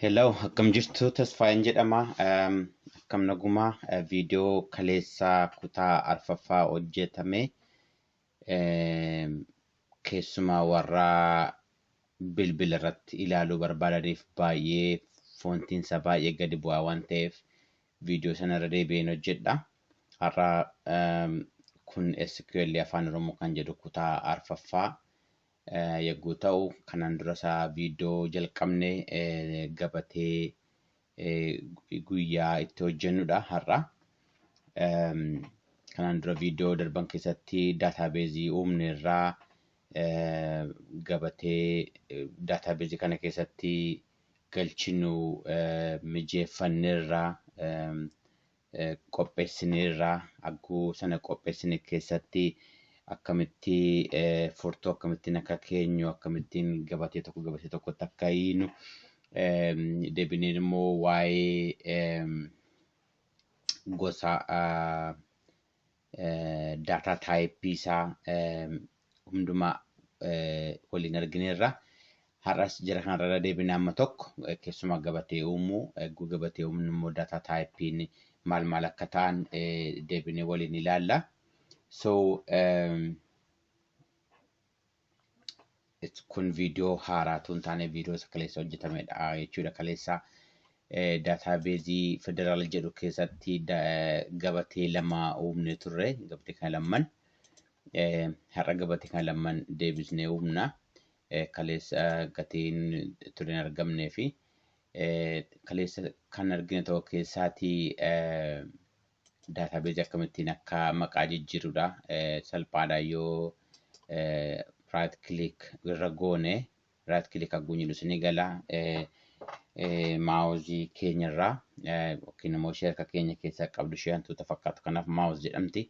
Hello, akkam jirtu Tasfaayeen jedhama. Um, akkam nagumaa uh, viidiyoo kaleessaa kutaa arfaffaa hojjetame um, keessumaa warra bilbila irratti ilaaluu barbaadaniif baay'ee foontiin isaa baay'ee gadi bu'aa waan ta'eef viidiyoo sana irra deebi'een hojjedha. Har'a um, kun SQL afaan Oromoo kan jedhu kutaa arfaffaa yagguu ta'u kanaan dura isaa viidiyoo jalqabne gabatee guyyaa itti hojjennudha har'a. Kanaan dura viidiyoo darban keessatti daataabeezii uumne irraa gabatee daataabeezii kana keessatti galchinu mijeeffanne irraa qopheessineerra. Agguu sana qopheessine keessatti akkamitti furtuu akkamittiin akka keenyu akkamittiin gabatee tokko gabatee tokkotti akka hiinu deebineen immoo waa'ee gosa daataa taayippii isaa hundumaa waliin argineerra. Har'as jara kanarra irra deebina amma tokko keessumaa gabatee uumuu eeguu gabatee uumnu immoo daataa taayippiin maal maal akka ta'an deebinee waliin ilaalla. So It's- kun viidiyoo haaraatu hin taane viidiyoo isa kaleessa hojjetamedha jechuudha kaleessa daataabeezii federaal jedhu keessatti da- eh, gabatee lama uumne turre gabatee kana lamman eh, har'a gabatee kana lamman deebisnee uumna Eh, kaleessa eh, gatiin ture hin argamnee fi eh, kaleessa kan argine tokko keessaatii eh, database akkamittiin akka maqaa jijjiirudha. Salphaadha yoo right click irra goone right click hagguu jedhu isinii gala. Maawuzii keenya irraa yookiin immoo ishee harka keenya keessaa qabdu ishee hantuuta fakkaatu kanaaf maawuz jedhamti.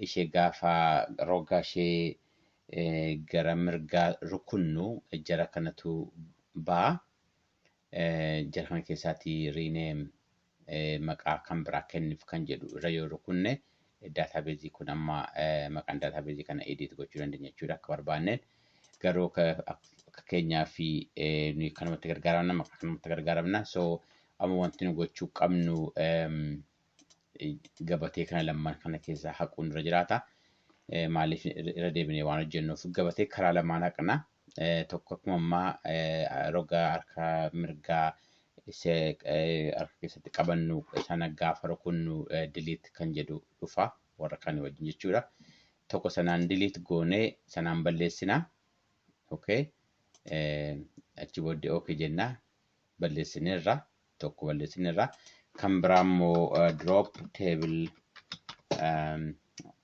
Ishee gaafa roga ishee gara mirgaa rukunnu jara kanatu ba'a. Jara kana keessaatii rename maqaa kan biraa kennif kan jedhu irra yoo rukunne database kun amma maqaan database kana edit gochuu dandeenya jechuudha akka barbaanneen garuu akka keenyaa fi nuyi kanumatti gargaaramna maqaa kanumatti gargaaramna so amma wanti nu gochuu qabnu gabatee kana lamaan kana keessaa haquun irra jiraata maaliif irra deebinee waan hojjennuuf gabatee karaa lamaan haqna tokko akkuma ammaa roga harka mirgaa isa harka keessatti qabannu sana gaafa rukunnu diliit kan jedhu dhufa warra kan wajjin jechuudha. Tokko sanaan diliit goonee sanaan balleessina. Okay. Achi booddee okay jenna. balleessineerra tokko balleessineerra kan biraa immoo drop table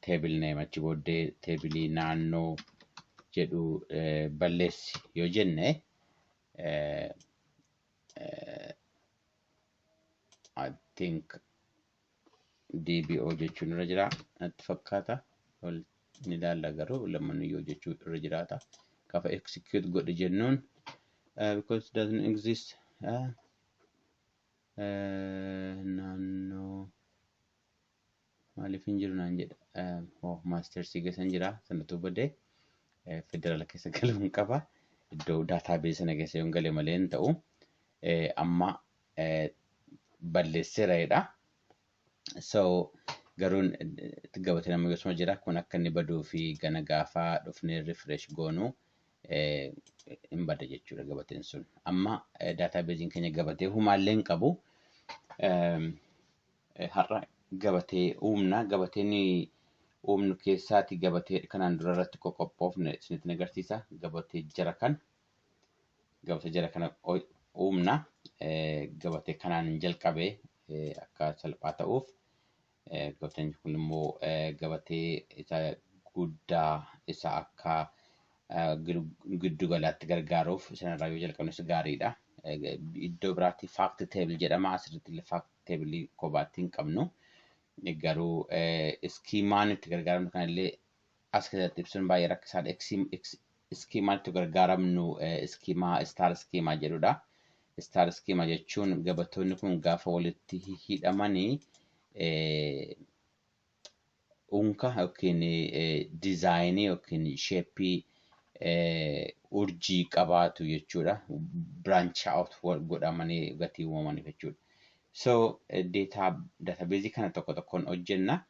table name achi booddee teebilii naannoo jedhu balleessi yoo jenne I think DBO jechuun irra jira natti fakkaata. Wal ni ilaalla garuu lammanu yoo jechuu irra jiraata. Kafa execute godhe jennuun uh, because it doesn't exist uh, uh, naannoo maaliif hin jiru naan jedha. Uh, oh, maastersii keessan jira sanatu badee uh, federaala keessa galuun qaba. Iddoo daataabeesii sana keessa yoon gale malee hin ta'u. Uh, amma balleesseera jedha. So garuu gabatee nama yosuma jira kun akka inni baduu fi gana gaafa dhufnee refresh goonu hin bada jechuudha gabateen sun. Amma daataabeeziin keenya gabatee humaallee hin qabu. Har'a gabatee uumna. Gabateen uumnu keessaati gabatee kanaan dura irratti qoqqophoofne isinitti agarsiisa. Gabatee jara kan gabatee jara kana uumna. Gabatee kanaan jalqabe akka salphaa ta'uuf gabateen kun immoo gabatee isa guddaa isa akka giddu galaatti gargaaruuf sanarraa yoo jalqabne isa gaariidha. Iddoo biraatti faakti teebil jedhama asirratti illee faakti teebilii kophaatti hin qabnu. Garuu iskiimaan itti gargaaramnu kanallee as keessatti ibsuun baay'ee rakkisaadha. Eksiim- eks- Iskiimaa itti gargaaramnu eh, iskiimaa istaar iskiimaa jedhudha. Istaar iskiimaa jechuun gabatoonni kun gaafa walitti hidhamanii eh, unka yookiin eh, dizaayinii yookiin sheeppii eh, urjii qabaatu jechuudha. Branch out wal- godhamanii gatii uumamaniif jechuudha. So eh, data databeezii kana tokko tokkoon hojjenna.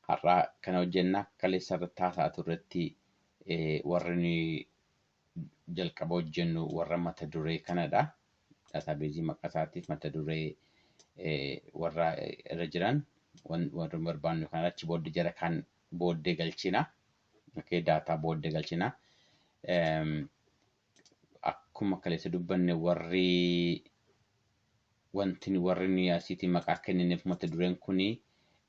Har'aa kana hojjenna. Kaleessa irratti haasa'aa turretti warri nuyi jalqaba hojjennu warra mata duree kanadha. Daataabeezii maqaa isaatiif mata duree warra irra jiran warra barbaannu kana achi booddee jara kan booddee galchina. Okay, daataa booddee galchina. akkuma kaleessa dubbanne warri wanti nu- warri nuyi asiitii maqaa kennineef mata dureen kuni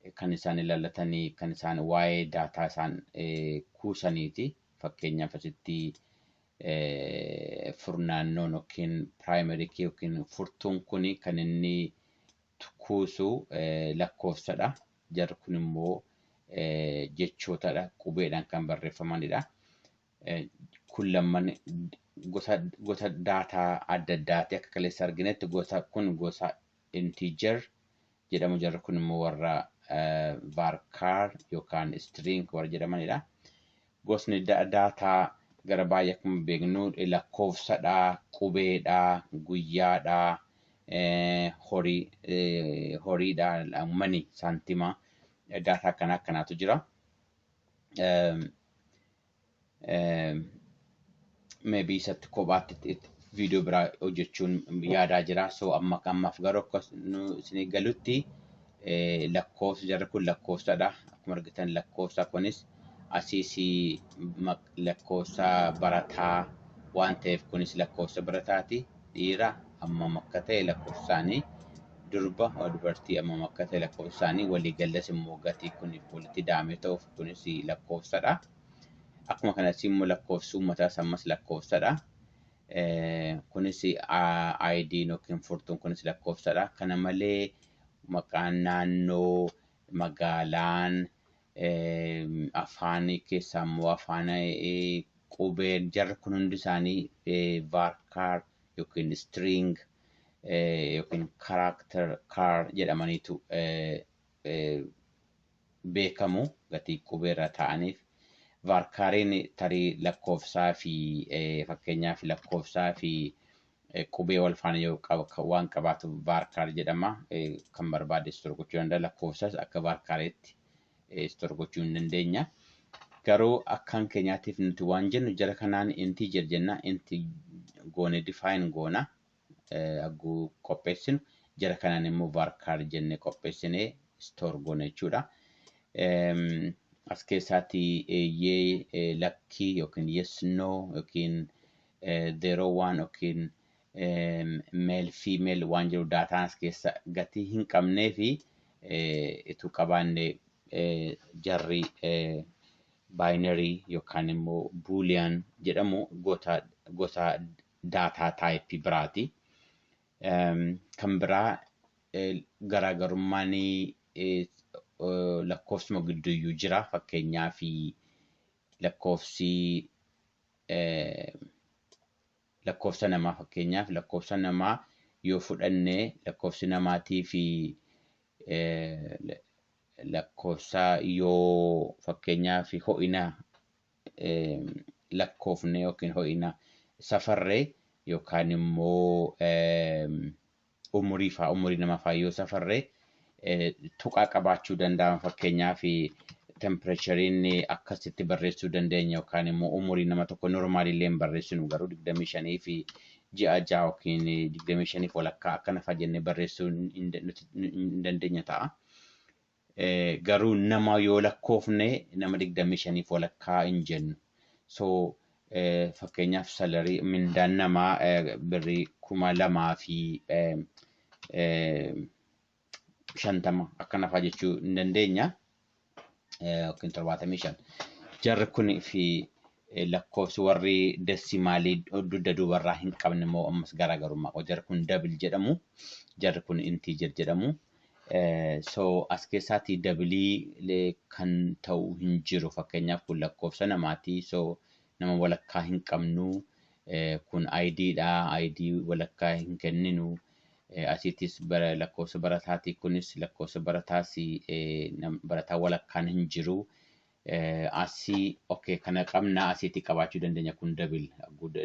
eh, kan isaan ilaallatanii kan isaan waa'ee daataa isaan eh, kuusaniiti fakkeenyaaf asitti eh, furnaannoon yookiin primary key yookiin furtuun kuni kan inni tu- kuusu eh, lakkoofsadha jarri kun immoo eh, jechootadha qubeedhaan kan barreeffamanidha. kun lamman gosa gosa daataa adda addaati akka kaleessa arginetti gosa kun gosa integer jedhamu jarri kun immoo warra varchar yookaan string warra jedhamanidha. Gosni daataa gara baay'ee akkuma beeknu lakkoofsadha, qubeedha, guyyaadha, horii horiidha, mani saantima daataa akkanaa akkanaatu jira. maybe isatti kophaatti itti- itti viidiyoo biraa hojjechuun yaadaa jira. So amma ammaaf garuu akka nu isinii galutti eh, lakkoofsi jarri kun lakkoofsadha. Akkuma argitan lakkoofsa kunis asiis maq- lakkoofsa barataa waan ta'eef kunis lakkoofsa barataati. dhiira hammam akka ta'e lakkoofsaanii durba dubartii hammam akka ta'e lakkoofsaanii waliigallas immoo gatii kun walitti daamee ta'uuf kunis lakkoofsadha. Akkuma kanas immoo lakkoofsi uummataas ammas lakkoofsadha. Kunis ID yookiin furtuun kunis lakkoofsadha. Kana malee maqaan naannoo, magaalaan, afaan keessaa immoo afaan qubeen jarri kun hundi isaanii vaarkaar yookiin istiriing yookiin karaakter kaar jedhamaniitu beekamu gatii qubee irra taa'aniif. Vaarkaariin tarii lakkoofsaa fi fakkeenyaaf lakkoofsaa fi eh, qubee wal faana yoo qab- ka- waan qabaatu vaarkaar jedhama. Eh, Kan barbaade istor gochuu danda'a. Lakkoofsas akka vaarkaareetti eh, istor gochuu hin dandeenya. Garuu akkaan keenyaatiif nuti waan jennu jara kanaan intii jir jenna inti goone difaayin goona eh, agguu qopheessinu jara kanaan immoo vaarkaar jenne qopheessinee istor goona jechuudha. Em, as keessaati eeyyee eh, lakkii yookiin yes no yookiin zero waan yookiin male female waan jiru daataan as keessa gatii hin qabnee fi ituu qabaanne jarri binary yookaan immoo boolean jedhamu gosa gosa daataa taayipii biraati. Kan biraa garaagarummaan lakkoofsuma gidduuyyuu jira fakkeenyaaf lakkoofsii lakkoofsa namaa fakkeenyaaf lakkoofsa namaa yoo fudhanne lakkoofsi namaatii fi lakkoofsa yoo fakkeenyaaf ho'ina lakkoofne yookiin ho'ina safarre yookaan immoo Umurii faa umurii nama faa yoo safarre tuqaa qabaachuu danda'an fakkeenyaaf tempireechariin akkasitti barreessuu dandeenya yookaan immoo umurii nama tokko normaali illee hin barreessinu garuu digdamii shanii fi ji'a ja'a yookiin digdamii shaniif walakkaa akkana faa jennee barreessuu hin dandeenya ta'a. Garuu nama yoo lakkoofne nama digdamii shaniif walakkaa hin jennu. So fakkeenyaaf salarii mindaan namaa birrii kuma lamaa fi shantama akkana fa'aa jechuu hin dandeenya. Yookiin torbaatamii shan. Jarri kun fi lakkoofsi warri desimaalii dugda duubarraa hin qabne immoo ammas garaagarummaa qabu. Jarri kun dabil jedhamu. Jarri kun intiijer jedhamu. So as keessaatii dabilii lee kan ta'u hin jiru fakkeenyaaf kun lakkoofsa namaatii so nama walakkaa hin qabnu kun ID dha ID walakkaa hin kenninu asiitis bara lakkoofsa barataatii kunis lakkoofsa barataasi barataa walakkaan hin jiru Asii ok kana qabna asiitti qabaachuu dandeenya kun dabil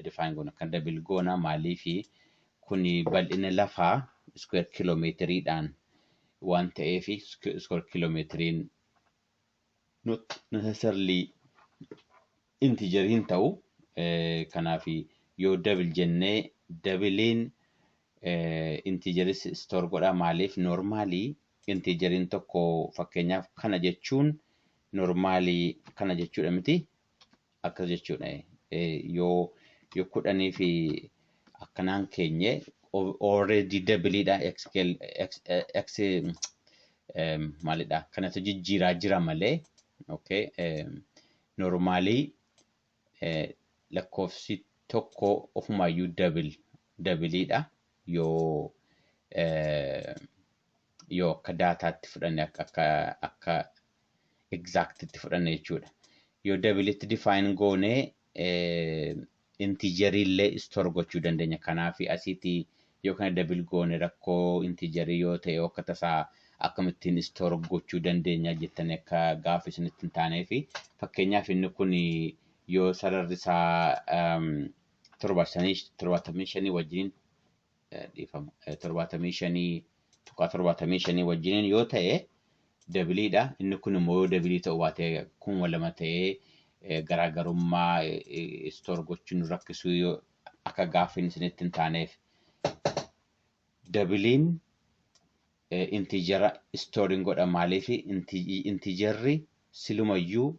define goona kan dabil goona maaliifi kun bal'ina lafaa iskuweer kiiloomeetiriidhaan waan ta'eef iskuweer kiiloomeetiriin not necessarily integer hin ta'u kanaaf yoo dabil jennee dabiliin integeris store godha maaliif normaalii Intiijeriin tokko fakkeenyaaf kana jechuun normaalii kana jechuudha miti. Akkas jechuudha. Yoo yoo kudhanii fi akkanaan keenye already dabiliidha x x maalidha kanatu jijjiiraa jira malee okay normaalii lakkoofsi tokko ofumaayyuu dabil dabiliidha yoo yoo akka daataatti fudhanne akka akka akka exactitti fudhanne jechuudha. Yoo dabilitti define goone intijerii illee store gochuu dandeenya. Kanaaf asitti Yoo kana double goone rakkoo integer yoo ta'e yoo akka tasaa akkamittiin store gochuu dandeenya jettanii akka gaaffii isinitti hin taaneef fakkeenyaaf inni kun yoo sararri isaa um, torba shanii torbaatamii shanii wajjiniin eh, dhiifama eh, torbaatamii shanii tuqaa torbaatamii shanii wajjiniin yoo ta'e dabiliidha inni kun immoo yoo dabilii ta'uu baate kuma lama ta'ee eh, garaagarummaa eh, eh, store gochuun nu rakkisuu yoo akka gaaffiin isinitti hin taaneef. Dabiliin intiijera istooriin godha maaliif intiijerri silumayyuu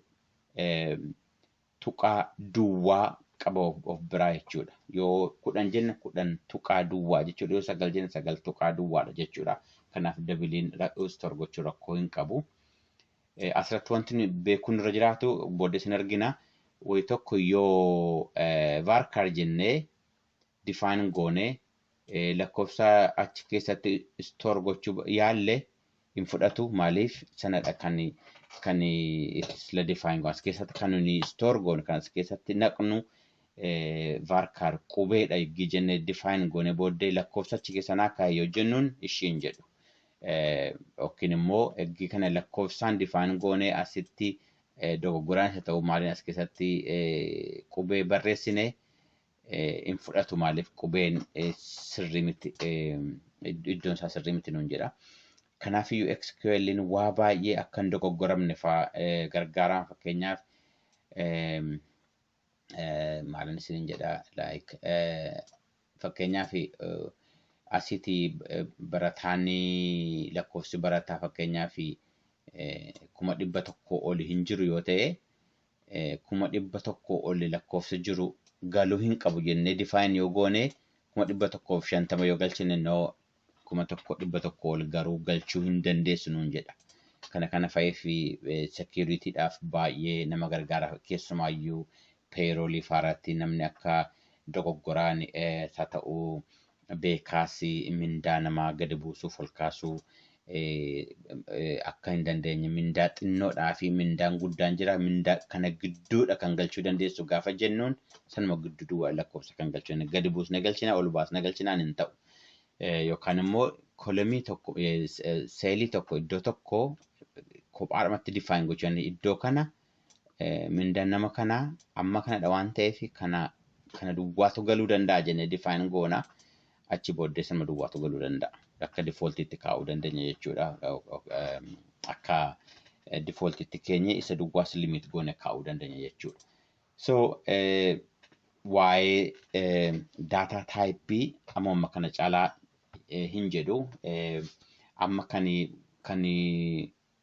tuqaa duwwaa qaba of biraa jechuudha. Yoo kudhan jenne kudhan tuqaa duwwaa jechuudha. Yoo sagal jenne sagal tuqaa duwwaadha jechuudha. Kanaaf dabiliin istoor gochuu rakkoo hin qabu. Asirratti wanti beekuun irra jiraatu booddee sin argina. Wayi tokko yoo varchar jennee define goone lakkoofsa achi keessatti store gochuu yaalle hin fudhatu maaliif sanadha kan kan sila define goone as keessatti kan nuni store goone kan as keessatti naqnu varchar qubeedha eggii jennee define goone booddee lakkoofsa achi keessa naa kaa'e yoo jennuun ishiin jedhu. yookiin immoo eggii kana lakkoofsaan difaan goonee asitti dogoggoraan isa ta'u maaliin as keessatti qubee barreessine hin fudhatu maaliif qubeen sirrii miti iddoon isaa sirrii miti nuun jedha. Kanaaf iyyuu SQL'n waa baay'ee akka hin dogoggoramne fa'aa gargaaraan fakkeenyaaf maalan isinin jedha like fakkeenyaaf asiti barataan lakkoofsi barataa fakkeenyaaf kuma dhibba tokko oli hin jiru yoo ta'e kuma dhibba tokko oli lakkoofsa jiru galuu hin qabu jennee define yoo goone kuma dhibba tokkoof shantama yoo galchine no kuma tokko dhibba tokko ol garuu galchuu hin dandeessu nuun jedha. Kana kana fa'ee fi sekiuritiidhaaf baay'ee nama gargaara keessumaayyuu peeroolii faarratti namni akka dogoggoraan haa ta'u beekaas mindaa namaa gadi buusuuf ol kaasuu akka hin dandeenye mindaa xinnoodhaa fi mindaan guddaan jira mindaa kana gidduudha kan galchuu dandeessu gaafa jennuun sanuma gidduu duwwaa lakkoofsa kan galchuu gadi buusne galchina ol baasne galchinaan hin ta'u. eh, yookaan immoo kolomii tokko eh, s- eh, seelii tokko iddoo tokko kophaadhumatti define gochuu dandeenya. Iddoo kana eh, mindaan nama kanaa amma kanadha waan ta'eef kana kana duwwaatu galuu danda'a jennee define goona. Achi booddee sanuma duwwaatu galuu danda'a. Akka defaultiitti kaa'uu dandeenya jechuudha. Eh, eh, em, Akka defaultiitti keenya isa duwwaas limit goone kaa'uu dandeenya jechuudha. So waa'ee data type ammoo amma kana caalaa hin jedhu. Amma kan kan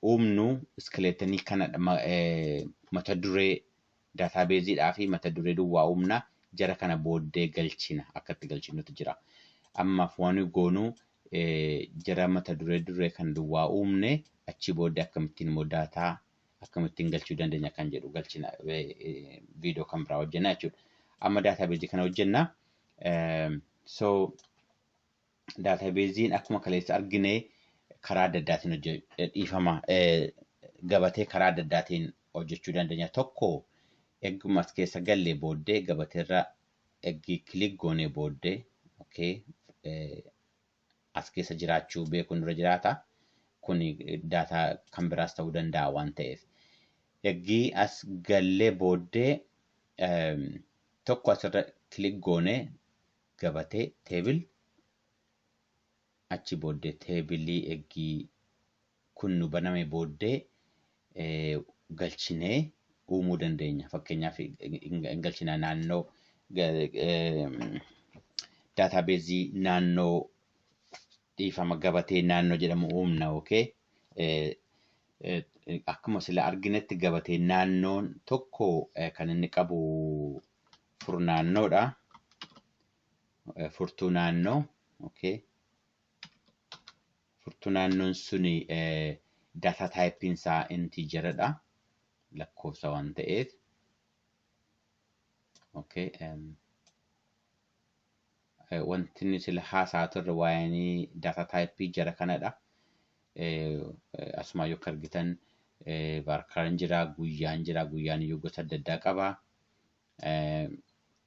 uumnu iskileetanii kana mata duree database dhaa fi mata duree duwwaa uumna jara kana booddee galchina akka itti galchinutu jira. Ammaaf waan goonu jara mata duree duree kan duwwaa uumne achii booddee akkamittiin immoo daataa akkamittiin galchuu dandeenya kan jedhu galchina viidiyoo kan biraa hojjenna jechuudha. Amma daataabeezii kana hojjenna. So daataabeeziin akkuma kaleessa argine karaa adda addaatiin dhiifama gabatee karaa adda addaatiin hojjechuu dandeenya. Tokko egguma as keessa gallee booddee gabateerra eggii kilik goonee booddee okay as keessa jiraachuu beekuun irra jiraata. Kuni daataa kan biraas ta'uu danda'a waan ta'eef. Eggii as gallee booddee ehm, tokko asirra kilik goone gabatee teebil achi booddee teebilii eggii kun nu baname booddee galchinee uumuu dandeenya. Fakkeenyaaf hin galchina naannoo daataabeezii naannoo dhiifama gabatee naannoo jedhamu uumna okay. Akkuma sila arginetti gabatee naannoon tokko kan inni qabu furnaannoodha. Furtuu naannoo okay. furtuu naannoon sun data type isaa integer dha lakkoofsa waan ta'eef okay um, wanti inni sila haasaa turre waa'een data type jara kanadha asumaa yoo argitan baarkaraan jira guyyaan jira guyyaan iyyuu gosa adda addaa qaba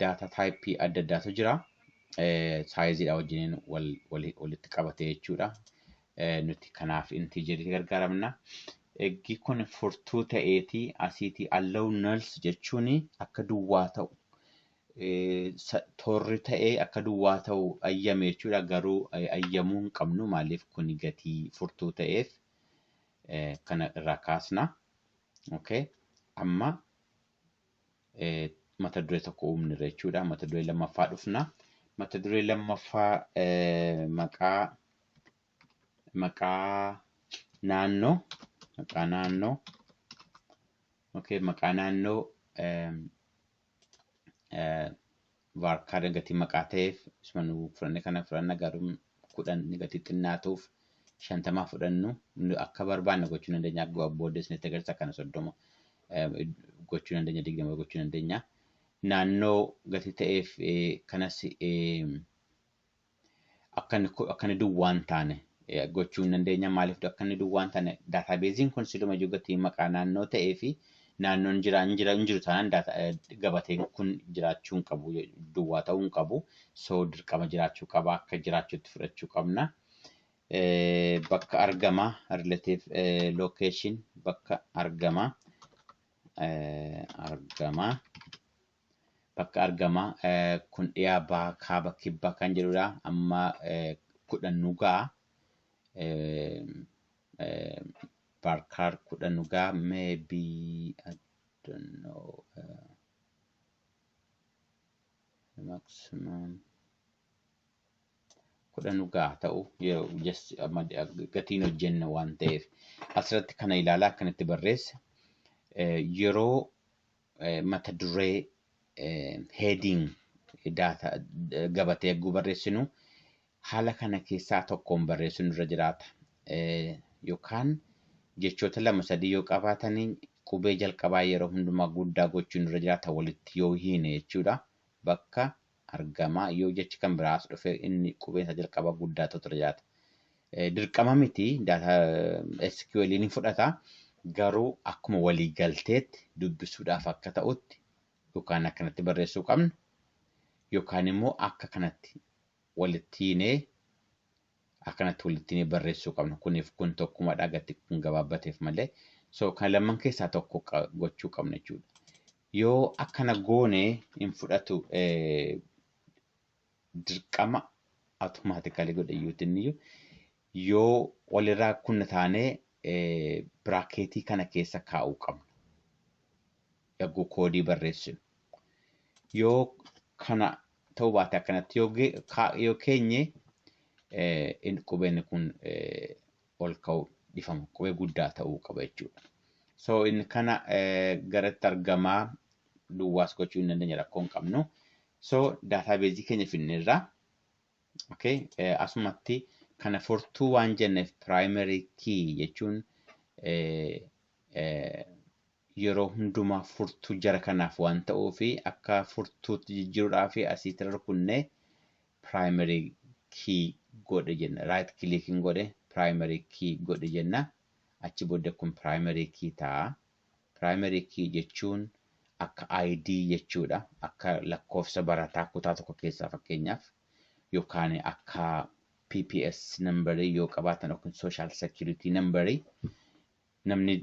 Data type adda addaatu jira. Saayiziidha wajjiniin walitti qabatee jechuudha. Nuti kanaaf intiijeriitti gargaaramna. Eggi kun furtuu ta'eeti asiiti allow nulls jechuun akka duwwaa ta'u torri ta'ee akka duwwaa ta'u ayyame jechuudha. Garuu ayyamuu hin qabnu maaliif kun gatii furtuu ta'eef kana irraa kaasna. Okay. Amma mata duree tokko uumnirra jechuudha. Mata duree lammaffaa dhufna. Mata duree lammaffaa maqaa maqaa naannoo maqaa naannoo okay maqaa naannoo var kaardiin gatii maqaa ta'eef isuma nu fudhanne kana fudhanna garuu kudhan ni gatii xinnaatuuf shantamaa fudhannu nu akka barbaanne gochuu dandeenya akkuma booddee isinitti agarsiisa akkana soddoma eh, gochuu dandeenya digdama gochuu dandeenya naannoo gatii ta'eef eh, kanas eh, akka inni ko- akka inni duwwaa hin taane eh, gochuu hin dandeenya. Maaliif akka inni duwwaa hin taane daataabeeziin kun siluma iyyuu gatii maqaa naannoo ta'ee fi naannoon jira hin jira hin jiru taanaan daata- eh, gabateen kun jiraachuu hin qabu je- duwwaa ta'uu hin qabu. So dirqama jiraachuu qaba akka jiraachuutti fudhachuu qabna. Eh, Bakka argama relative eh, location bakka argama eh, argama. Bakka argama kun dhiyaa baha kaaba kibba kan jedhudha amma kudhan nu ga'a barkaar kudhan nu ga'a maybe I don't know uh, maximum kudhan nu ga'a ta'u yeroo just amma gatiin hojjenna waan ta'eef asirratti kana ilaalaa akkanatti barreessa yeroo mata duree heading data gabatee egguu barreessinu haala kana keessaa tokkoon barreessuun irra jiraata. Eh, Yookaan jechoota lama sadii yoo qabaatanii qubee jalqabaa yeroo hundumaa guddaa gochuun irra jiraata walitti yoo hiine jechuudha. Bakka argama. Yoo jechi kan biraas dhufe inni qubeen isaa jalqaba guddaa ta'utu irra jiraata. Eh, Dirqama miti daataa eh, SQL ni fudhata garuu akkuma walii galteetti dubbisuudhaaf akka ta'utti yookaan akkanatti barreessuu qabna yookaan immoo akka kanatti walitti hiinee akkanatti walitti hiinee barreessuu qabna. Kuniif kun tokkumadha gatti kun gabaabbateef malee. So kan lamman keessaa tokko qa- gochuu qabna jechuudha. Yoo akkana goone hin fudhatu dirqama automatically godhe iyyuutiin iyyuu yoo walirraa kunna taanee biraakeetii kana keessa kaa'uu qabna. Yagguu koodii barreessinu. Yoo kana ta'uu baate akkanatti yoo keenye qubeen kun ol ka'u dhifama qubee guddaa ta'uu qaba jechuudha. So inni kana garatti argamaa duwwaas gochuu hin dandeenye rakkoo hin qabnu. So daataabeezii keenya finneerra. Okay. Asumatti kana furtuu waan jenneef primary key jechuun yeroo hundumaa furtuu jara kanaaf waan ta'uu fi akka furtuutti jijjiiruudhaa fi asiitti rukunnee primary key godhe jenna right click hin godhe primary key godhe jenna achi bodda kun primary key ta'a primary key jechuun akka ID jechuudha akka lakkoofsa barataa kutaa tokko keessaa fakkeenyaaf yookaan akka PPS number yoo qabaatan yookiin social security number namni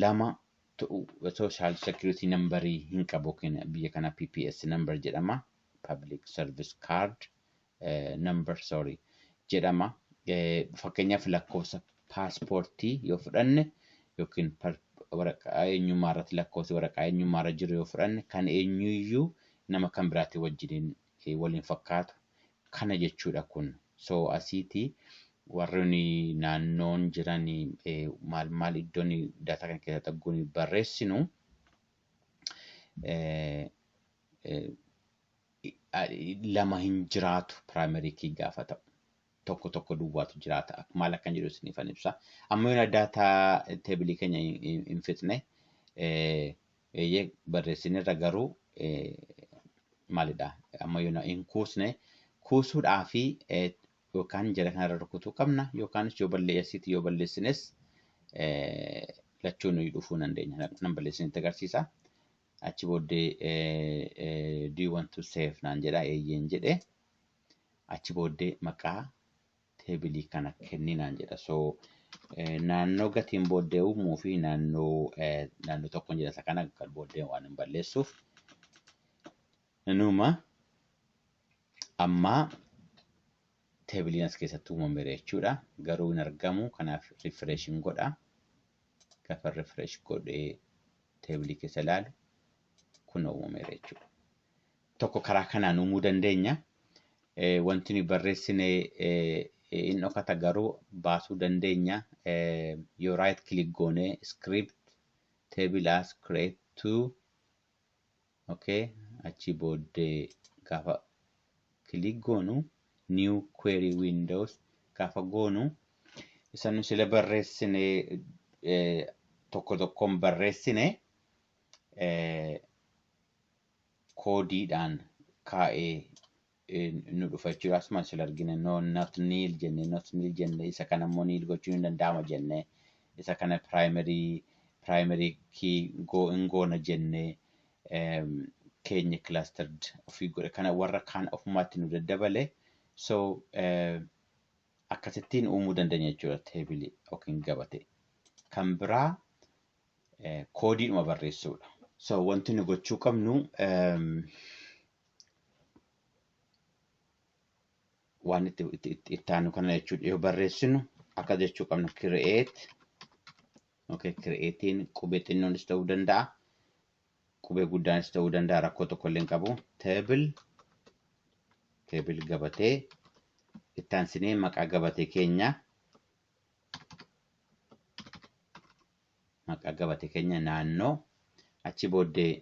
lama ta'u social security number hin qabu yookiin biyya kana PPS number jedhama public service card eh, number sorry jedhama Eh, fakkeenyaaf lakkoofsa paaspoortii yoo fudhanne yookiin par- waraqaa eenyummaa irratti lakkoofsi waraqaa eenyummaa irra jiru yoo fudhanne kan eenyuyyuu nama kan biraatii wajjiniin wal hin fakkaatu kana jechuudha kun so asiiti warroni naannoon jiran maal maal iddoon daataa kana keessa dhagguun barreessinu lama hin jiraatu primary key gaafa ta'u tokko tokko duwwaatu jiraata. Ak- Maal akkan jedhu isiniifan ibsa. Amma yoona daataa teebilii keenya hin- hin hin fixne eh, eeyyee barreessinerra garuu eh, maalidha amma yoona hin kuusne kuusuudhaa fi eh, yookaan jara kanarra rukutuu qabna yookaanis yoo balleessitti yoo balleessines eh, lachuu nuyi dhufuu dandeenya. Na- Nan balleessinitti agarsiisa. Achi booddee eh, eh, do you want to save naan jedha eeyyeen jedhe. Achi booddee maqaa teebilii kana kenni naan jedha. So naannoo gatiin booddee uumuu fi naannoo naannoo tokkoon jedha isa kana kan booddee waan hin balleessuuf. Inuma ammaa teebiliin as keessatti uumameera jechuudha. Garuu hin argamu kanaaf refresh hin godha. Gaafa refresh godhee teebilii keessa ilaalu kun uumameera jechuudha. tokko karaa kanaan uumuu dandeenya. Wanti nuyi barreessine hin dhokata garuu baasuu dandeenya. Yoo right click goone script table as create to okay achii booddee gaafa click goonu new query windows gaafa goonu isa nu sila barreessine tokko tokkoon barreessine koodiidhaan kaa'ee nu dhufa jechuudha. Asuma sila argine no not nil jenne not nil jenne isa kana immoo nil gochuun hin danda'ama jenne isa kana primary primary key go hin goona jenne keenya clustered ofii godhe kana warra kaan ofumaatti nu daddabale so akkasittiin uumuu dandeenya jechuudha teebilii yookiin gabatee. Kan biraa koodiidhuma barreessuudha. So wanti nu gochuu qabnu waan itti itti aanu kana jechuudha yoo barreessinu akka jechuu qabnu create okay createin qubee xinnoonis ta'uu danda'a qubee guddaanis ta'uu danda'a rakkoo tokko illee hin qabu table table gabatee itti aansinee maqaa gabatee keenya maqaa gabatee keenya naannoo achi booddee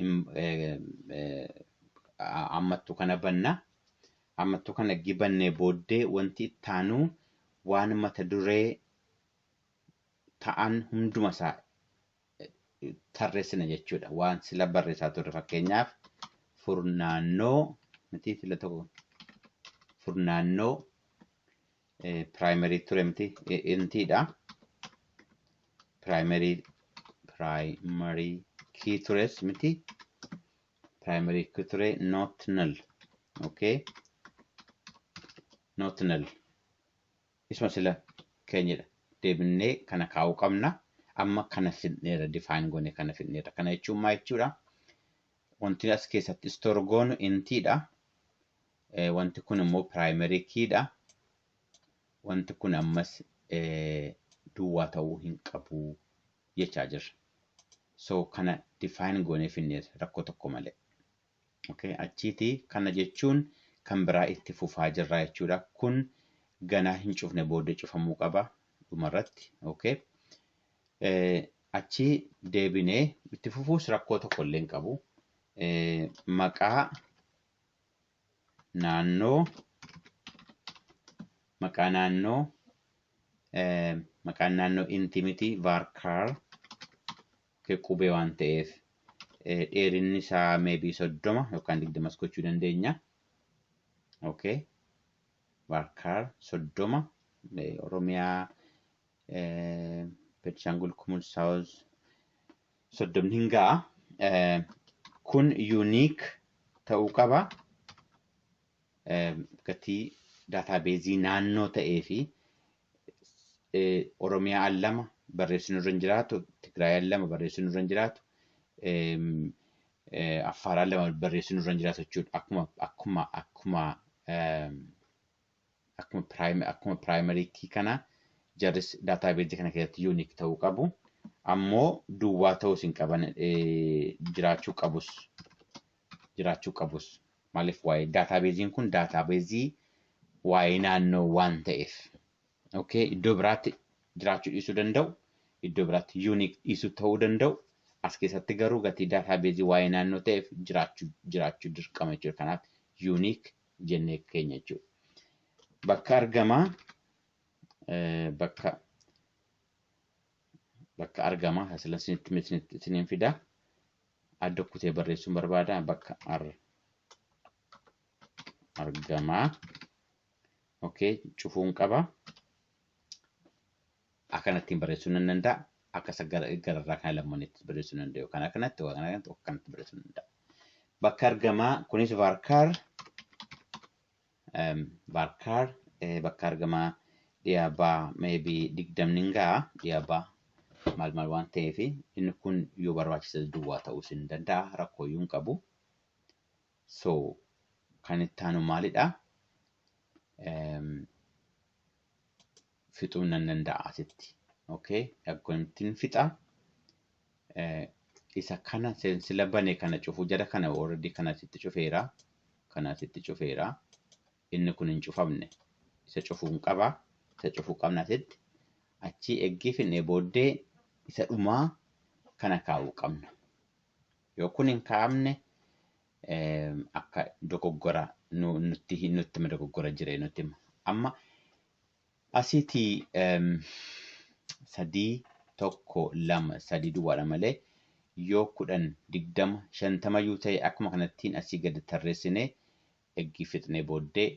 im- eh, eh, a- ammattuu kana banna. Ammattuu kana erga bannee booddee wanti itti aanu waan mata duree ta'an hunduma isaa tarreessina jechuudha. Waan sila barreessaa turre fakkeenyaaf furnaannoo miti sila tokko furnaannoo Primary ture miti intiidha. Primary primary key tures miti. Primary key ture not null. Okay. Not null. Isuma sila keenyadha. Deebinnee kana kaa'uu qabna. Amma kana fidneera define goone kana fidneera. Kana jechuun maal jechuudha? Wanti as keessatti store goonu intiidha. Eh, wanti kun immoo primary key dha. Wanti kun ammas eh, duwwaa ta'uu hin qabu jechaa jirra. So kana define goonee finneerra rakkoo tokko malee. Okay, achiiti kana jechuun kan biraa itti fufaa jirra jechuudha. Kun ganaa hin cufne booddee cufamuu qaba dhumarratti. Okay. Eh, achi deebinee itti fufuus rakkoo tokko illee hin qabu. Eh, maqaa naannoo maqaa naannoo maqaan naannoo inti miti varkar qubee waan ta'eef dheerinni isaa meebii soddoma yookaan digdamas gochuu dandeenya. Okay. Varkar soddoma Oromiyaa Benishaangul Kumul Saawuz 30 hin ga'a. Kun unique ta'uu qaba. Gatii daataabeezii naannoo ta'ee fi Oromiyaa al lama barreessinu irra hin jiraatu, Tigraay al lama barreessinu irra hin jiraatu, Affaar al lama barreessinu irra hin jiraatu jechuudha. Akkuma akkuma akkuma akkuma prime akkuma primary key kana jarris database kana keessatti unique ta'uu qabu ammoo duwwaa ta'uus hin qaban eh, jiraachuu qabus jiraachuu qabus maaliif waa'ee database kun database waa'ee naannoo waan ta'eef okay iddoo biraatti jiraachuu dhiisuu danda'u iddoo biraatti unique dhiisuu ta'uu danda'u as keessatti garuu gatii database waa'ee naannoo ta'eef jiraachuu jiraachuu dirqama jechuudha kanaaf unique jennee keenya jechuudha. Bakka argamaa bakka bakka argamaa hasilan sinitti miti siniin fidaa adda kutee barreessuun barbaada bakka ar argamaa okay cufuun qaba Akkanattiin barreessuu nan danda'a. Akka isa gara gararraa kana lammaneetti barreessuu nan danda'a. Yookaan akkanatti yookaan akkanatti yookaan akkanatti barreessuu nan danda'a. Bakka argamaa kunis varkaar em, varkaar eh, bakka argamaa dhiyaabaa maybe digdamni hin ga'a dhiyaabaa maal maal waan ta'eef inni kun yoo barbaachise duwwaa ta'uus hin danda'a rakkoo iyyuu hin qabu. So kan itti aanu maalidha? Em, fixuu nan danda'a asitti. Okay, akkamittiin fixa? Eh, isa kana sen- sila bane kana cufu jara kana already kana asitti cufeera. Kana asitti cufeera. Inni kun hin cufamne. Isa cufuun qaba. Isa cufuu qabna asitti. Achii eggii finnee booddee isa dhumaa kana kaa'uu qabna. Yoo kun hin kaa'amne eh, akka dogoggora nu- nutti nutti hima dogoggora jiree nutti hima. Amma Asiti sadii tokko lama sadii duwwaadha malee yoo kudhan digdama shantamayyuu ta'e akkuma kanattiin asii gadi tarreessine eggii fixnee booddee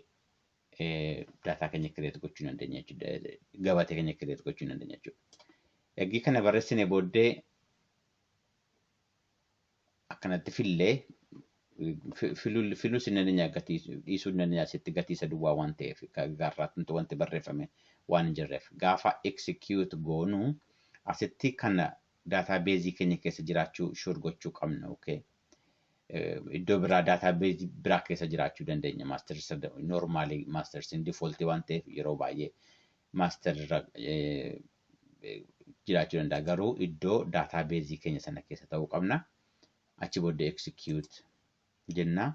daataa keenya kireet gochuu hin dandeenya jechuudha. Gabatee keenya kireet gochuu hin dandeenya jechuudha. Eggii kana barreessine booddee akkanatti fille filus inni dandeenya dhiisuu inni dandeenya asitti gatii isa duwwaa waan ta'eef gaarraatti wanti barreeffame waan hin jirreef gaafa execute goonu asitti kana daataa beezii keenya keessa jiraachuu shuur gochuu qabna okay. Iddoo biraa daataa beezii biraa keessa jiraachuu dandeenya maastersi noormaalii maastersiin difooltii waan ta'eef yeroo baay'ee maaster jiraachuu danda'a garuu iddoo daataa beezii keenya sana keessa ta'uu qabna. Achi booddee execute jenna.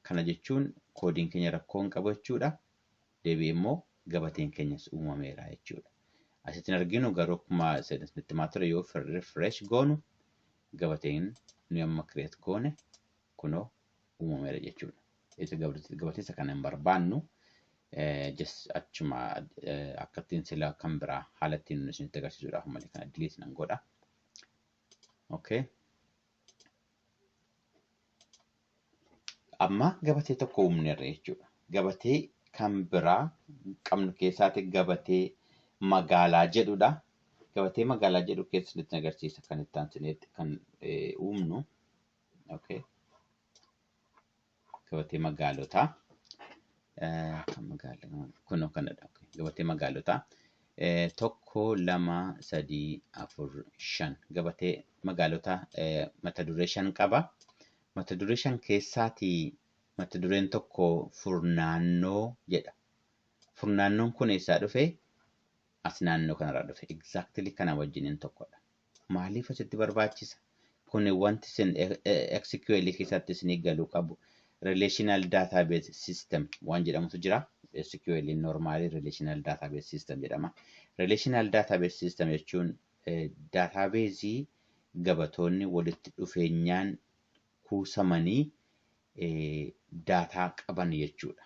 Kana jechuun koodiin keenya rakkoo hin qabu jechuudha. Deebi'ee immoo gabateen keenyas uumameera jechuudha. Asitti hin arginu garuu akkuma itti himaa ture yoo refresh goonu gabateen nuyi amma create goone kunoo uumameera jechuudha. Isa gabatessa kana hin barbaannu just achuma akkattiin sila kan biraa haala ittiin nuti isinitti agarsiisuudhaaf malee kana delete nan godha. Okay. Amma gabatee tokko uumneerra jechuudha. Gabatee kan biraa qabnu keessaati gabatee magaalaa jedhudha. Gabatee magaalaa jedhu keessatti agarsiisa kan itti aansineetti kan uumnu. Okay. Gabatee magaalotaa. Eh, kan magaala- Kunoo kanadha. Okay. Gabatee magaalotaa. Eh, Tokko, lama, sadii, afur, shan. Gabatee magaalotaa eh, mata duree shan qaba. Mata duree shan keessaatii mata dureen tokko furnaannoo jedha. Furnaannoon kun eessaa dhufe? As naannoo kanarraa dhufe. Exactly kana wajjiniin tokkodha. Maaliif asitti barbaachisa? Kun wanti isin SQL keessatti isinii galuu qabu. Relational database system waan jedhamutu jira. SQL normally relational database system jedhama. Relational database system jechuun database gabatoonni walitti dhufeenyaan kuusamanii daataa qaban jechuudha.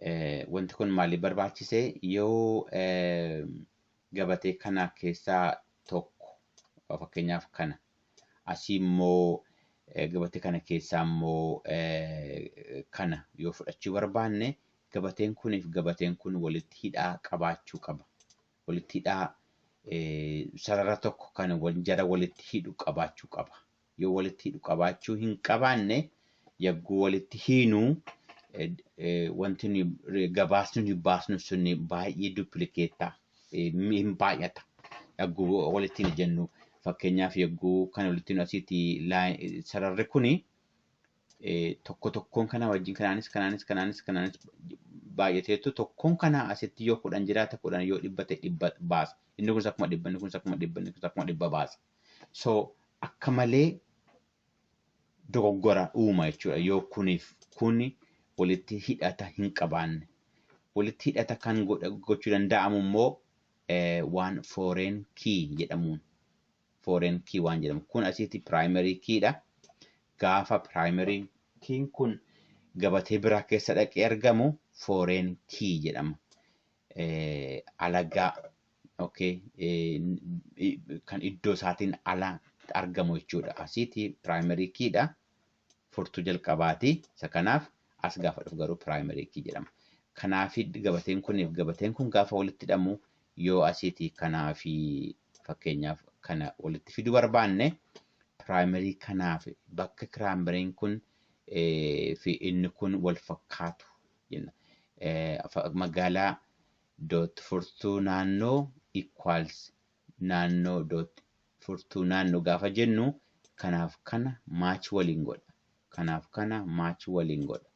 Eh, Wanti kun maaliif barbaachise? Yoo eh, gabatee kana keessaa tokko eh, fakkeenyaaf kana asii immoo eh, gabatee kana keessaa immoo eh, kana yoo fudhachuu barbaanne gabateen kuniif gabateen kun walitti hidhaa qabaachuu qaba. Walitti hidhaa eh, sarara tokko kan wal- jara walitti hidhu qabaachuu qaba. yoo walitti hidhu qabaachuu hin qabaanne yagguu walitti hiinu wanti nuyi gabaasni nuyi baasnu sun baay'ee duplikeetta hin baay'ata yagguu walitti hin jennu fakkeenyaaf yagguu kan walitti hidhu asiiti sararri kuni tokko tokkoon kana wajjin kanaanis kanaanis kanaanis kanaanis baay'ateetu tokkoon kana asitti yoo kudhan jiraata kudhan yoo dhibba ta'e dhibba baasa inni kunis akkuma dhibba inni kunis akkuma dhibba inni kunis akkuma dhibba baasa So akka malee dogoggora uuma jechuudha yoo kuniif kuni walitti hidhata hin qabaanne. Walitti hidhata kan gochuu danda'amu immoo waan foreign key jedhamuun foreign key waan jedhamu kun asitti primary key dha. Gaafa primary key kun gabatee biraa keessa dhaqee argamu foreign key jedhama. eh, alagaa okay, eh, n- i- kan iddoo isaatiin ala argamu jechuudha. Asiiti primary key dha. Furtuu jalqabaati. Isa kanaaf as gaafa dhufu garuu primary key jedhama. Kanaafi gabateen kunii fi gabateen kun gaafa walitti hidhamu yoo asiiti kanaafi fakkeenyaaf kana walitti fiduu barbaanne primary kanaaf bakka kiraamariin kun eh, fi inni kun wal fakkaatu jenna. Eh, fa- Magaalaa dot furtuu naannoo equals naannoo dot furtuu naannoo gaafa jennu kanaaf kana match waliin godha. Kanaaf kana match waliin godha.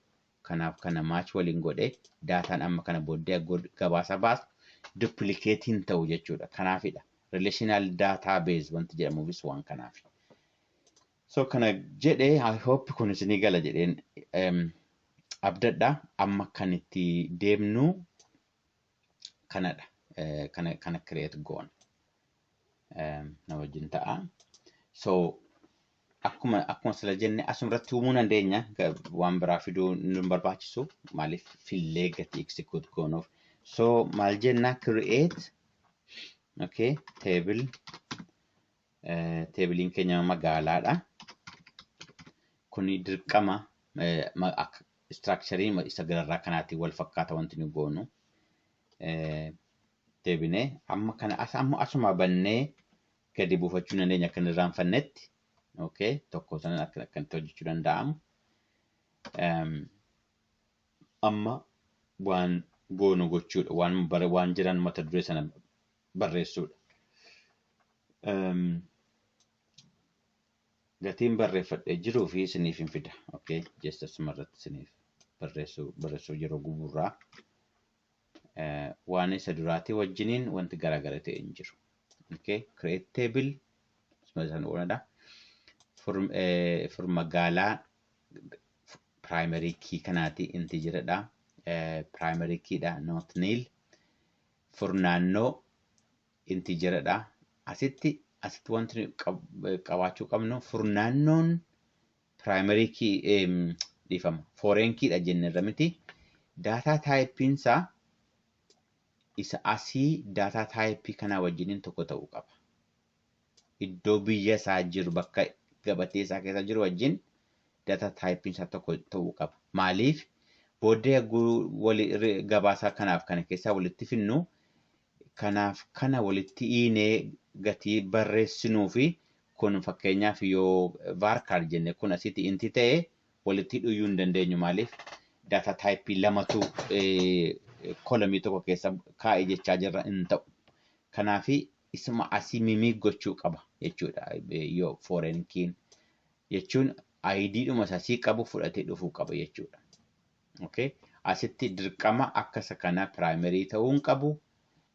Kanaaf kana match waliin godhe daataan amma kana booddee gol- gabaasa baasu duplicate hin ta'u jechuudha. Kanaafidha. Relational database wanti jedhamuufis waan kanaafi. So kana jedhe I hope kun isinii gala jedheen em, abdadha amma kan itti deemnu kanadha Eh, kana kana create goona Em, na wajjin ta'a so akkuma akkuma sila jenne asuma irratti uumuu dandeenya Ga- waan biraa fiduu nu hin barbaachisu maaliif fillee gatii execute goonuuf so maal jenna create okay table teebiliin keenya magaalaadha. Kuni dirqama istiraakcharii isa gararraa kanaatiin wal fakkaata wanti nu goonu. Deebinee amma kana amma asuma bannee gadi buufachuu dandeenya akka hin irraanfannetti. Okay, tokko sanan akka akkamitti hojjechuu danda'amu. Amma waan goonu gochuudha. Waan bara waan jiran mata duree sana barreessuudha. Gatiin barreeffadhee jiruu fi isiniif hin fida. Okay, jecha sumarratti isiniif barreessuu barreessuu yeroo guburraa waan isa duraatii wajjiniin wanti garaagara ta'e hin jiru. Okay, create table isaan ooludha. Fur magaalaa primary key kanaati inti jiradha. Primary key dha not nil. furnaannoo integer dha. Asitti asitti wanti nuyi qab- qabaachuu qabnu furnaannoon primary key em, dhiifama foreign key dha jennerra miti. Daataa taayipiin isaa isa asii daataa taayipii kanaa wajjiniin tokko ta'uu qaba. iddoo biyya isaa jiru bakka gabatee isaa keessa jiru wajjin data type isaa tokko ta'uu qaba. Maaliif booddee yagguu wali re- gabaasaa kanaaf kana keessaa walitti finnu kanaaf kana walitti hiinee gatii barreessinuu fi kun fakkeenyaaf yoo varchar jenne kun asitti inti ta'e walitti hidhuyyuu hin dandeenyu maaliif data type lamatu eh, kolomii tokko keessa kaa'e jechaa jirra hin ta'u. Kanaafi isuma asii mimiik gochuu qaba jechuudha yoo foreign kiin jechuun ID dhuma isa asii qabu fudhatee dhufuu qaba jechuudha. Okay. Asitti dirqama akka isa kana primary ta'uu hin qabu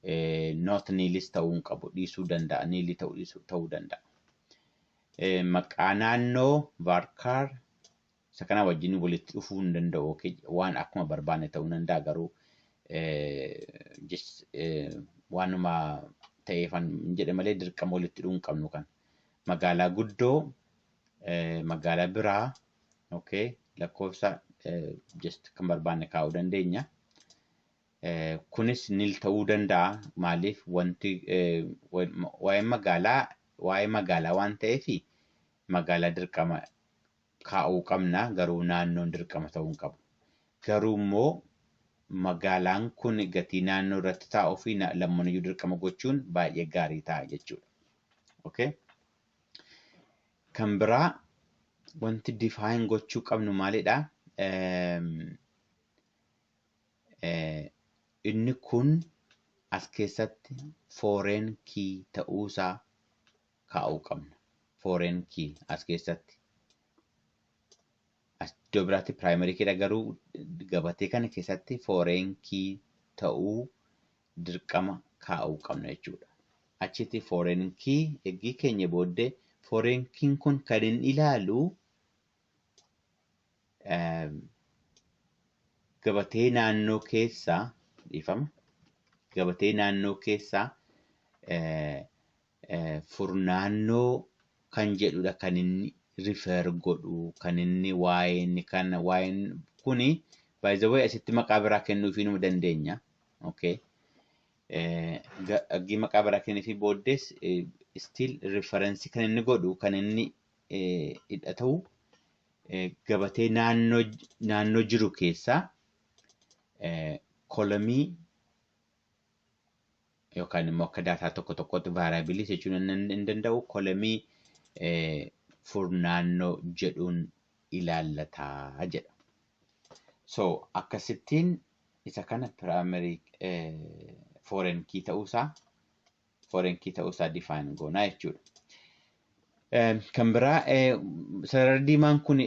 eh, not niilis ta'uu hin qabu dhiisuu danda'a niilii ta'uu dhiisuu ta'uu danda'a. Eh, Maqaa naannoo varchar Isa kanaa wajjin walitti dhufuu hin danda'u yookiin waan akkuma barbaanne ta'uu hin danda'a garuu waanuma ta'eefan hin jedhe malee dirqama walitti dhufuu hin qabnu kan magaalaa guddoo magaalaa biraa okay lakkoofsa just kan barbaanne kaa'uu dandeenya. Kunis nil ta'uu danda'a maaliif wanti waa'ee magaalaa waa'ee magaalaa waan ta'eef magaalaa dirqama kaa'uu qabna garuu naannoon dirqama ta'uu hin qabu. Garuu immoo magaalaan kun gatii naannoo irratti taa'uu fi lammaniyyuu dirqama gochuun baay'ee gaarii ta'a jechuudha. Okay? Kan biraa wanti define gochuu qabnu maalidha? Inni kun as keessatti foreign key ta'uusaa kaa'uu qabna. Foreign key as keessatti. As iddoo biraatti primary key dha garuu gabatee kana keessatti foreign key ta'uu dirqama kaa'uu qabna jechuudha. Achitti foreign key eggii keenya booddee foreign key kun kan hin ilaalu gabatee naannoo keessaa dhiifama gabatee naannoo keessaa furnaannoo kan jedhudha kan inni refer godhu kan inni waa'een kan waa'een kuni by the way asitti maqaa biraa kennuufii numa dandeenya. Okay. Aggii maqaa biraa kenniifii booddees still reference kan inni godhu kan inni hidha ta'u gabatee naannoo naannoo jiru keessaa kolomii yookaan immoo akka daataa tokko tokkootti vaaraabiliis jechuun hin danda'u kolemii furnaannoo jedhuun ilaallataa jedha. So akkasittiin isa kana piraayimeri foorenkii ta'uusaa foorenkii ta'uusaa difaayin goonaa jechuudha. Kan biraa sarara diimaan kun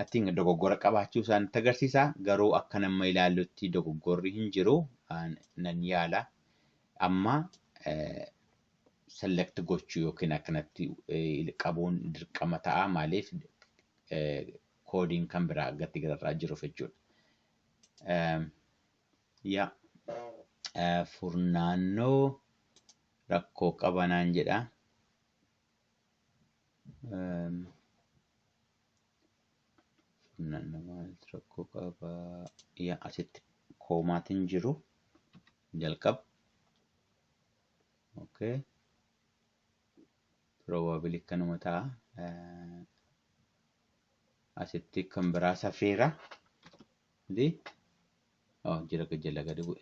I think dogoggora qabaachuu isaa nutti agarsiisa. Garuu akka nama ilaallutti dogoggorri hin jiru nan yaala. Amma select gochuu yookiin akkanatti qabuun dirqama ta'a maaliif koodiin kan biraa gatti gararraa jiruuf jechuudha. Yaa furnaannoo rakkoo qaba naan jedha. Funaanna maaltu rakkoo qaba? Yaa asitti koomaatiin jiru jalqaba. Okay. Probably kanuma ta'a. Asitti kan biraa safeera. Di? Oh, jira jala gadi bu'e.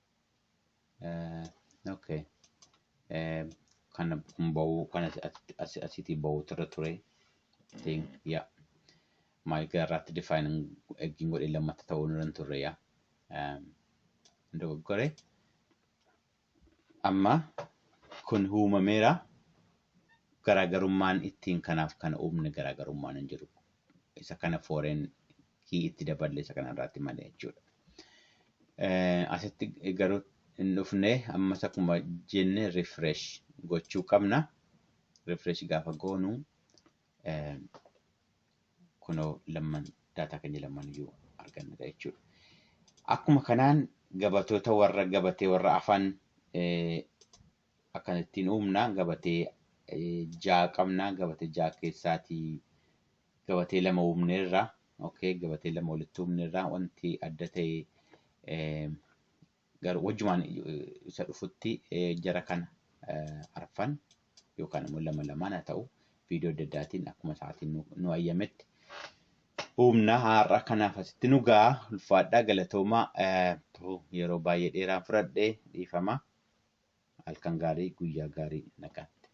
Eh, okay. Eh, kana kun ba'uu kan asi- asi- asi- asitii ba'uutu irra ture. I think, yeah. Maal gara irraatti define eggiin godhee lammatta ta'uu irra hin turre yaa. Um, dogoggore. Amma kun uumameera. Garaagarummaan ittiin kanaaf kana uumne garaagarummaan hin jiru. isa kana foreign key itti daballe isa kana irratti malee jechuudha. Asitti garuu hin dhufne ammas akkuma jenne refresh gochuu qabna. Refresh gaafa goonu kunoo lamman daataa keenya lamman iyyuu argannudha jechuudha. Akkuma kanaan gabatoota warra gabatee warra afaan akkana ittiin uumna gabatee ja'a qabna gabatee ja'a keessaatii gabatee lama uumneerra okay gabatee lama walitti uumneerra wanti adda ta'e eh, garuu wajjumaan eh, isa dhufutti eh, jara kana eh, arfan yookaan immoo lama lamaan haa ta'u viidiyoo adda addaatiin akkuma sa'aatiin nu, nu ayyametti humna har'a kanaaf asitti nu ga'a ulfaadhaa galatoomaa eh, yeroo baay'ee dheeraan fudhadhe dhiifama. Halkan gaarii guyyaa gaarii nagaatti.